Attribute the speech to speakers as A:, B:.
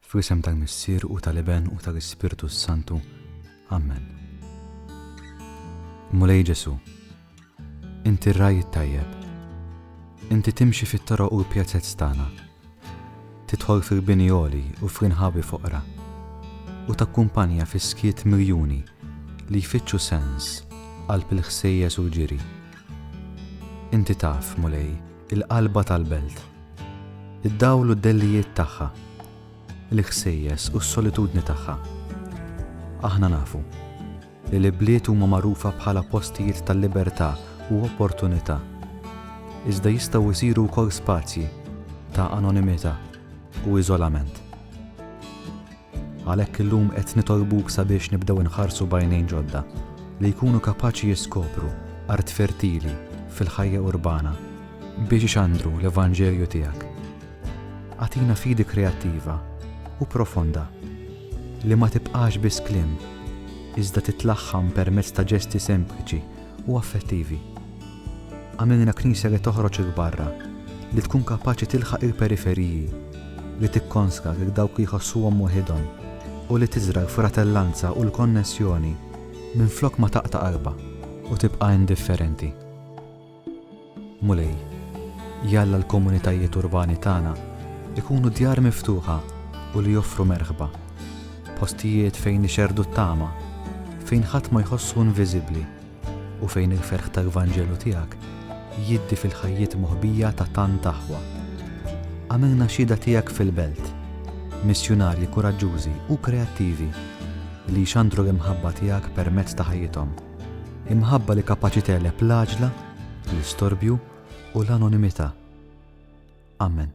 A: Fl-isem tal-Missier u tal-Iben u tal-Ispirtu s-Santu. Amen. Mulej Ġesu', Inti r-Ragħaj it-Tajjeb. Inti timxi fit-toroq u l-pjazez tagħna. Tidħol fil-bini għoli u fl-inħawi foqra, u takkumpanja fis-skiet miljuni li jfittxu sens qalb il-ħsejjes u l-ġiri. Inti taf, Mulej, il-qalba tal-belt, id-dawl u d-dellijiet tagħha, il-ħsejjes u s-solitudni tagħha. Aħna nafu li l-ibliet huma magħrufa bħala postijiet ta' libertà u opportunità, iżda jistgħu jsiru wkoll spazji ta' anonimità u iżolament. Għalhekk illum qed nitolbuk sabiex nibdew inħarsu b'għajnejn ġodda, li jkunu kapaċi jiskopru art fertili fil-ħajja urbana biex ixandru l-evanġelju tiegħek. Agħtina fidi kreattiva u profonda li ma tibqax biss kliem, iżda titlaħħam permezz ta' ġesti sempliċi u affettivi. Għamilna Knisja li toħroġ 'il barra, li tkun kapaċi tilħaq il-periferiji, li tikkonsga lil dawk li jħossuhom waħidhom u li tiżra' l-fratellanza u l-konnessjoni minflok ma taqta' qalbha u tibqa' indifferenti. Mulej, jalla l-komunitajiet urbani tagħna jkunu djar miftuħa u li joffru merħba, postijiet fejn nixerrdu t-tama, fejn ħadd ma jħossu inviżibbli u fejn il-ferħ tal-Vanġelu tiegħek jiddi fil-ħajjiet moħbija ta' tant aħwa. Għamilna xhieda tiegħek fil-belt, missjunarji kuraġġużi u kreattivi li jxandru l-imħabba tiegħek permezz ta' ħajjithom. Imħabba li kapaċi tegħleb l-għaġla, l-istorbju, u l-anonimità. Amen.